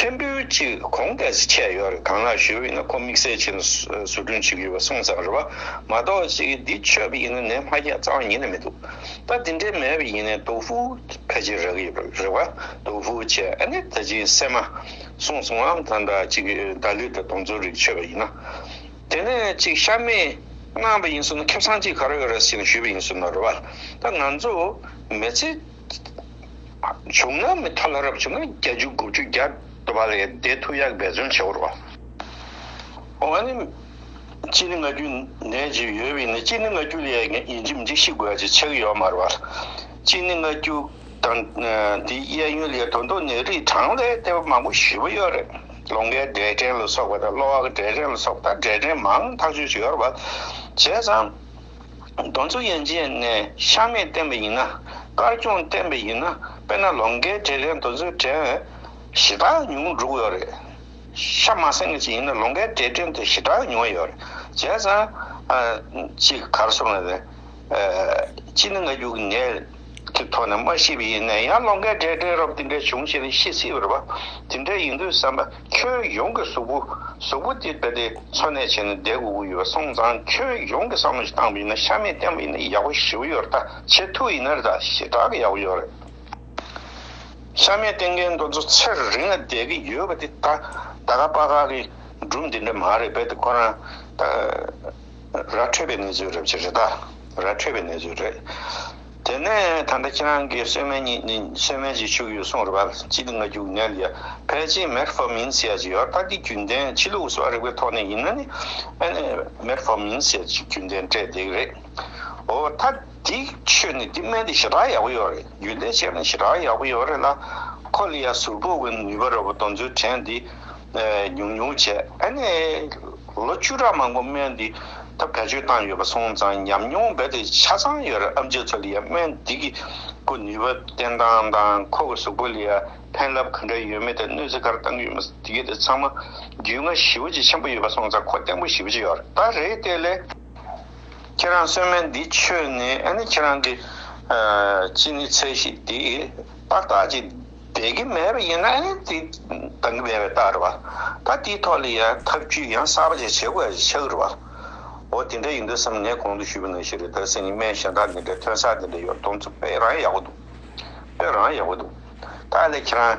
ཕྲན་བུ་གཅིག་གོང་དེ་ཚོ་ཁྱད་ཡོད་རེད་གང་ལགས་ཞུ་ཡོད་ཡིན་ན་ཁོ་དམིགས་བསལ་བྱས་ནས་བཟོ་སྐྲུན་བྱེད་ཀྱི་ཡོད་པ་གསུངས་ཙང་རེད་བ་མ་གཏོགས་ཅིག་འདི་ཆོས་པ་ཡིན་ན་ནས་སྨ་རྒྱ་གཙང་བ་ཉིད་ནས་མི་འདུག་ད་འདི་འདྲའི་མེད་པ་ཡིན་ནས་དོ་ཧྥུའུ་ཕལ་ཆེར་རག་གི་ཡོད་པ་རེད་བ་དོ་ཧྥུའུ་ཆེ་ཨ་ནི་ད་ཅིག་སེ་མ་གསུངས་སོང་ངམ་ད་འདྲ་ཅིག་ད་ལུས་ད་དོང་ཚོ་རིག་ཆོས་པ་ཡིན་ན་དེ་ནས་ཅིག་ཤ་མེད་སྣང་བ་ཡིན་སོང་ན་ཁེབས་ཚང་ཅིག་ག་རེ་ཡོད་རེད་ཟེར་ནས་ཞུས་པ་ཡིན་སོང་ན་རེད་བ་ད་ང་ཚོ་མེ་ཚེ། བྱུང་ན་མི་ཐ་ལྷ་རབ་བྱུང་ན་བརྒྱ་བཅུ་དགུ་བཅུ་བརྒྱ་འགྲོ་བ་ལས་འདས་ཐུགས་ཡག་འབད་བརྩོན་བྱེད་བོར་བ། འོ་ནི། སྤྱིར་ནི་ང་རྒྱུ་ནད་ཅིག་ཡོད་བས་ན་སྤྱིར་ནི་ང་རྒྱུ་ལས་ཡིན་གྱི་མི་འཇིགས་ཤི་དགོས་ཀྱི་ཆེ་གི་ཡོད་མ་རེད་བ། སྤྱིར་ནི་ང་རྒྱུ་དང། དེའི་གཡས་གཡོན་ལས་དོན་དུ་ནི་རིགས་གྲངས་ལས་ལྟེ་བ་མང་པོ་བཞི་པོ་ཡོད་རེད། ལོང་ཀའི་འབྲས་སྐྲན་ལ་སོགས་པ་དང་གློ་བ་གི་འབྲས་སྐྲན་ལ་སོགས་པ་དང་འབྲས་སྐྲན་མང་ཐག་ཆོད་ཅིག་ཡོད་རེད་བ། བྱས་ཙང། གདོན་ཚུལ་ཡན་ཆད་ནས་ཤ་མེད་བསྟན་པ་ཡིན་ན། དཀར་སྐྱོང་བསྟན་པ་ཡིན་ན་དཔེར་ན་ལོ་འགའི་གྲས་རེད་གདོན་ཚུལ་དྲན་འོས་ཞེ་དྲག་ཉུང་ངུ་འགྲོ་གི་ཡོད་རེད། ཤ་མ་གསེང་གི་ཅིག་ཡིན་ན་ལོ་འགའི་གྲས་དྲན་འདོད་ཞེ་དྲག་ཉུང་བ་ཡོད་རེད། བྱས་ཙང། གཅིག་གར་སོང་ནས། གཅིག་ནི་ང་རྒྱུག་གི་ནད་ཀྱི་ཐོག་ནས་མ་ཤི་བ་ཡིན་ནའི་ཡང་ལོ་འགའི་གྲས་དྲན་རོགས་དེ་འདྲ་བྱུང་ཞེས་ཤི་སྲིད་པར་བ། དེ་འདྲ་ཡིན་དུས་བསམ་པ། ཁྱོན་ཡོངས་ཀྱི་གཟུགས་པོ། གཟུགས་པོ་དེ་རྦད་དེ་འཚོ་གནས་བྱས་ནས་བསྡད་དགོས་ཀྱི་ཡོད་སོང་ཙང་ཁྱོན་ཡོངས་ཀྱི་བསམ་བློ་ཞིག་བཏང་བ་ཡིན་ན་ཤ་མེད་བསྟན་པ་ཡིན་ན་ཡག་པོ་ཞི་བ་ཡོད་རེད་ད་ཆེས་ཐུགས་ཡིན་ན་རེད་ད་ཞེ་དྲག་གི་ཡག་པོ་ཡོད་རེད། ཤ་མེད་བསྟན་མཁན་འདོན་ཚོ་ཚེ་རིང་ལ་བསྡད་ཀྱི་ཡོད་པ་དེ་ད་ད་ག་དཔའ་ཁག་གི་སྒྲུབ་འདི་འདྲ་མ་རེད་རྦད་དེ་ཁོ་རང། ར་འཕྲོད་པའི་གནས་ཚུལ་རེད་ཅེས་རེད་ད། ར་འཕྲོད་པའི་གནས་ཚུལ་རེད། དེ་ནས་ད་ལྟ་ཁྱེད་རང་གིས་གསོལ་སྨན་གཉིས་ནི་གསོལ་སྨན་གཅིག་བྱུགས་ཡོད་གསུངས་རེད་པ་གཅིག་ནི་ང་རྒྱུག་ནད་ལ་ཡར་ཕལ་ཆེན་མེར་ཧྥ་མིན་ཟེར་ཡག་ཅིག་ཡོད་རྟགས་ཀྱི་རྒྱུན་ལྡན་ཕྱི་ལུགས་སོགས་རིག་པའི་ཐོག་ནས་ཡིན་ན་ནི་ཨ་ནི་མེར་ཧྥ་མིན་ཟེར་ཅིག་རྒྱུན་ལྡན་སྤྲད་བསྡད་ཀྱི་རེད། འོ་ད། འདི་ཆོས་ནི་འདི་སྨན་འདི་ཞེ་དྲག་ཡག་པོ་ཡོད་རེད་རྒྱུན་ལྡན་བྱས་ནས་ཞེ་དྲག་ཡག་པོ་ཡོད་རེད་ལ། ཁོ་ལི་ཡ་ཟུར་པོ་དབེན་ནུས་པ་རོ་པོ་དོན་ཚུལ་དྲན་འདི་ཉུང་ཉུང་བྱས་ཨེ་ནས། ལོ་བཅུ་ཕྲག་མང་པོ་སྨན་འདི་ད་བེད་སྤྱོད་བཏང་ཡོད་པ་སོང་ཙང་ཉམས་མྱོང་རྦད་དེ་ཆ་ཚང་ཡོད་རེད་ཨ་མཆོད་ཚོ་ལི་ཡ་སྨན་འདི་གི་ཁོ་ནུས་པ་བསྟན་སྟངས་དང་ཁོ་གི་ཟུར་པོ་ལི་ཡ་ཕན་རླབས་ག་འདྲ་ཡོད་མེད་དེ་གནོད་འཚེ་གར་བཏང་གི་ཡོད་མེད་དེ་གི་དེ་ཚང་མ་རྒྱུས་མངའ་ཞིབ་པོ་ཅིག་ཆེན་པོ་ཡོད་པ་སོང་ཙང་ཁོ་བསྟན་པོ་ཞིབ་པོ་ཅིག་ཡོད་རེད་ད་རེད་བལྟས་ལེ། ཁྱེད་རང་གསོལ་སྨན་འདི་མཆོད་ནས་ནི་ཁྱེད་རང་གི་ཅི་ནི་ཚེ་ཞིག་འདི་དཔའ་རྟགས་ཀྱི་བདེ་གི་མེད་པ་ཡིན་ན་ནི་དེ་དང་གི་མེད་པའི་རྟགས་རེད་བ། ད་དེའི་ཐོག་ལ་ཡང་ཐབས་བྱུས་ཡང་གསར་པ་ཅིག་བྱེད་དགོས་ཡ་ཆགས་རེད་བ། འོ་དེ་འདྲ་ཡིན་དུས་སམ་ངས་གོང་དུ་ཞུས་པ་ནང་བཞིན་རེད་ད་སེམས་ཀྱི་སྨན་གཞན་དག་འདི་འདྲའི་ཐོན་ས་འདི་འདྲའི་ཡོད་མདོང་ཚུལ་དཔེ་རང་ཡག་པོ་འདུག་དཔེ་རང་ཡག་པོ་འདུག་ད་ལས་ཁྱེད་རང།